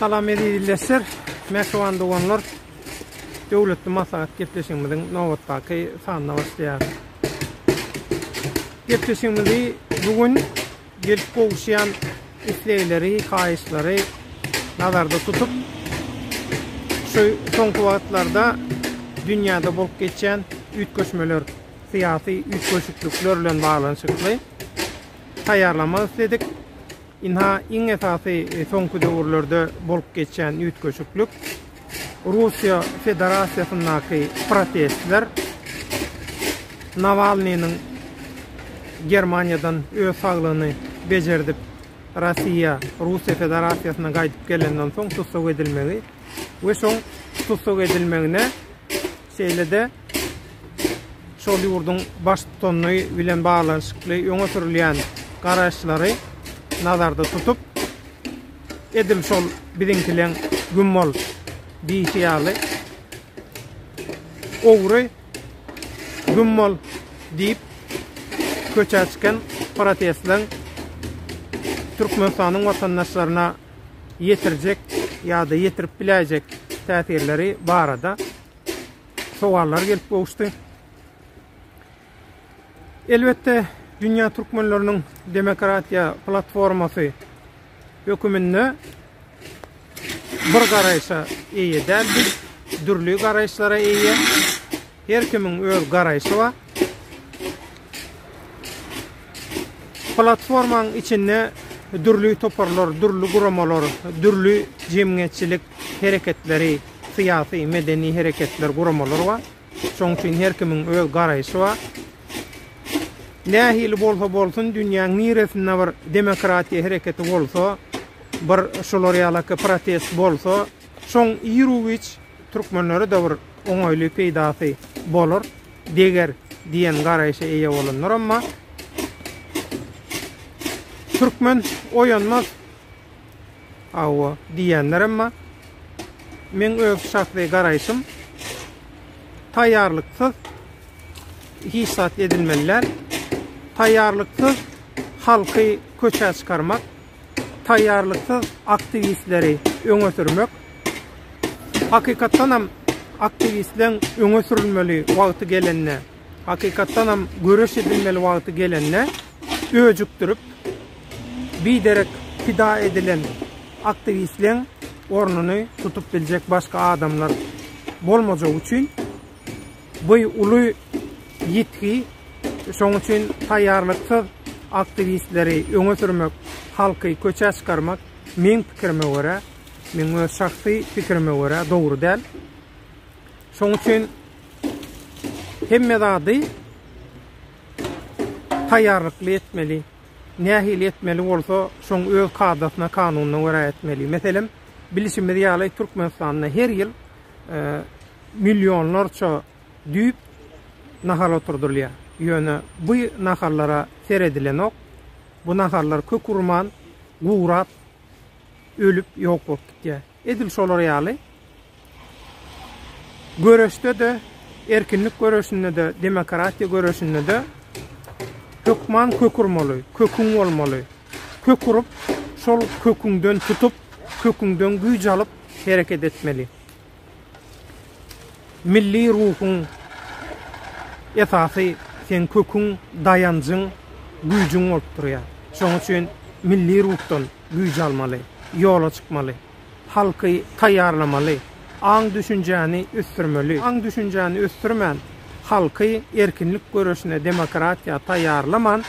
Salam eziz ildeşler, mähriban doganlar. Döwletli maslahat gepleşigimiziň nobatdaky sanyna başlaýar. Gepleşigimizi bu gün gelip gowuşýan islegleri, haýyşlary nazarda tutup, şu soňky wagtlarda dünýäde bolup geçýän üýtgeşmeler, syýasy üýtgeşiklikler bilen baglanyşykly taýýarlamak isledik. Ynha, iň esasy soňky döwürlerde bolup geçýän üýtgeşiklik, Russiýa Federasiýasyndaky protestler, Nawalnynyň Germaniýadan öz saglygyny bejerdip, Rossiýa, Russiýa Federasiýasyna gaýdyp gelenden soň tussag edilmegi we şoň tussag edilmegine Şeýle-de, şol ýurduň Baştutany bilen baglanyşykly öňe sürülýän garaýyşlary nazarda tutup, edil şol biziňkileň güm bol diýşi ýaly, Ogry, güm bol! diýip, köçä çykan protestleň Türkmenistanyň watandaşlaryna ýetirjek ýa-da ýetirip biläýjek täsirleri barada sowallar gelip gowuşdy. Elbetde, dünýä türkmenleriniň demokratiýa platformasy höküminde bir garaýşa eýe däldi, dürli garaýyşlara eýe. Her kimiň öz garaýşy bar. Platformaň içinde dürli toparlar, dürli guramalar, dürli jemgyýetçilik hereketleri, syýasy, medeni hereketler, guramalar bar. Şoň üçin her kimiň öz garaýşy bar. Nähili bolsa bolsun, dünýäň niresinde bir demokratiýa hereketi bolsa, bir şular ýalaki protest bolsa, Şoň Iruwiç türkmenlere-de bir oňaýly peýdasy bolar, deger diýen garaýşa eýe bolandyr, emma türkmen oýanmaz hawa diýendir, emma meň öz şahsy garaýşym taýýarlyksyz hiç zat edilmeli däl. Taýýarlyksyz halky köçä çykarmak taýýarlyksyz aktiwistleri öňe sürmek, hakykatdanam aktiwistleň öňe sürülmeli wagty gelende, hakykatdanam göreş edilmeli wagty gelende öjükdirip, biderek pida edilen aktiwistleň ornuny tutup biljek başga adamlar bolmajagy üçin Bu uly ýitgi, şonuň üçin taýýarlyksyz aktiwistleri öňe sürmek, halky köçä çykarmak, meň pikirime görä, meň öz şahsy pikirime görä dogry däl. Şonuň üçin hemme zady taýýarlykly etmeli. Nähili etmeli bolsa, şoň öz kadasyna, kanunyna görä etmeli. Meselem, bilşimiz ýaly, Türkmenistanda her ýyl e, millionlarça düýp nahal oturdylýar. Ýöne bu nahallara seredilenok. Bu nahallar kök urman, gurap, ölüp, ýok bolup gitýär. Edil şolar ýaly göreşde-de, erkinlik göreşinde-de, demokratiýa göreşinde-de hökman kök urmaly, köküň bolmaly. Kök urup, şol köküňden tutup, köküňden güýç alyp hereket etmeli. Milli ruhuň esasy seň köküň, daýanjyň, güýjüň bolup durýar. Şonuň üçin milli ruhdan güýç almaly, ýola çykmaly, halky taýýarlamaly, aň-düşünjäni ösdürmeli. Aň-düşünjäni ösdürmän, halky erkinlik göreşine, demokratiýa taýýarlaman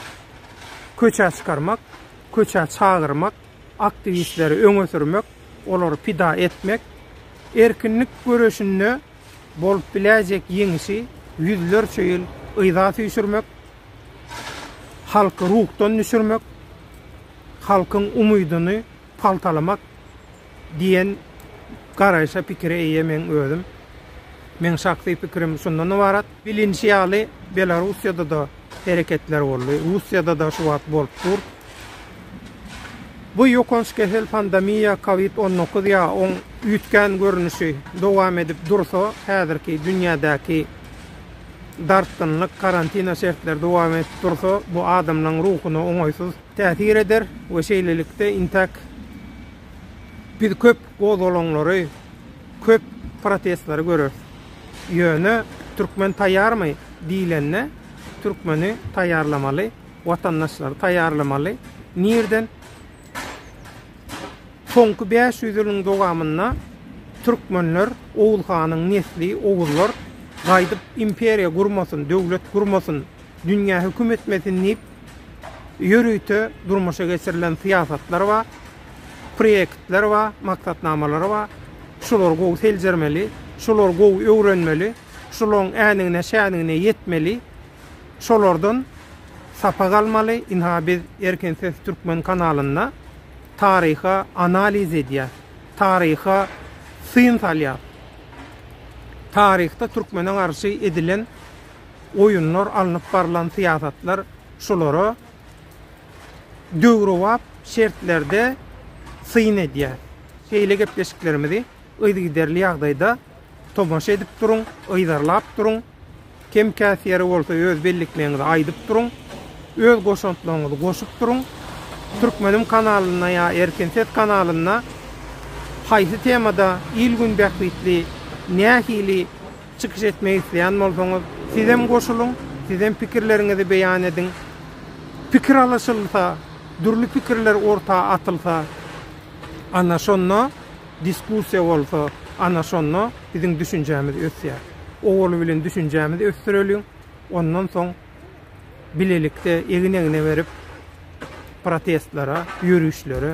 köçä çykarmak, köçä çagyrmak, Aktiwistleri öňe sürmek, olary pida etmek, erkinlik göreşinde bolup biläýjek ýeňişi ýüzlerçe ýyl yza süýşürmek, halky ruhdan düşürmek, halkyň umydyny paltalamak diýen garaýşa, pikire eýe men özüm. Meň şahsy pikirim şundan ybarat. Bilinişi ýaly, Belarussiýada-da hereketler boldy, Russiýada-da şu wagt bolup dur. Bu ýokanç kesel, pandemiýa, covid on dokuz ýa oň üýtgän görnüşi dowam edip dursa, häzirki dünýädäki dartgynlyk, karantina şertleri dowam edip dursa, bu adamlaryň ruhuna oňaýsyz täsir eder we şeýlelikde, intäk biz köp Gozgalaňlary köp, protestleri göreris. Ýöne türkmen taýýarmy diýlende, türkmeni taýýarlamaly, watandaşlary taýýarlamaly. Nireden? Soňky bäş ýüz ýylyň dowamynda türkmenler, Oguz hanyň nesli, oguzlar gaýdyp imperiýa gurmasyn, döwlet gurmasyn Dünýä höküm etmesin diýip, ýörite durmuşa geçirilen syýasatlar bar, proýektler bar, maksatnamalar bar. Şulary gowy seljermeli, şulary gowy öwrenmeli, şularyň änigine, şänigine ýetmeli, şolardan sapak almaly. Ynha, biz Erkin ses türkmen kanalynda taryha analiz edýäris, taryha syn salýarys. Taryhda türkmene garşy edilen Oýunlar, alnyp barlan syýasatlar şulara döwrebap şertlerde syn edýär. Şeýle gepleşiklerimizi yzygiderli ýagdaýda tomaşa edip duruň, yzarlap duruň. Kem-käs ýeri bolsa öz bellikmegiňizi aýdyp duruň. Öz goşantlaryňyzy goşup duruň. Türkmenim kanalynda ýa Erkin ses kanalynda haýsy temada il-gün bähbitli nähili Çykyş etmek isleýän bolsaňyz sizem goşulyň, sizem pikirleriňizi beýan ediň. Pikir alyşylsa, dürli pikirler orta atylsa, ana şonda diskussiýa bolsa, ana şonda biziň düşünjämiz ösýär. Owaly bilen düşünjämizi ösdüreliň, ondan soň bilelikde egin-egne berip protestlere, ýörişlere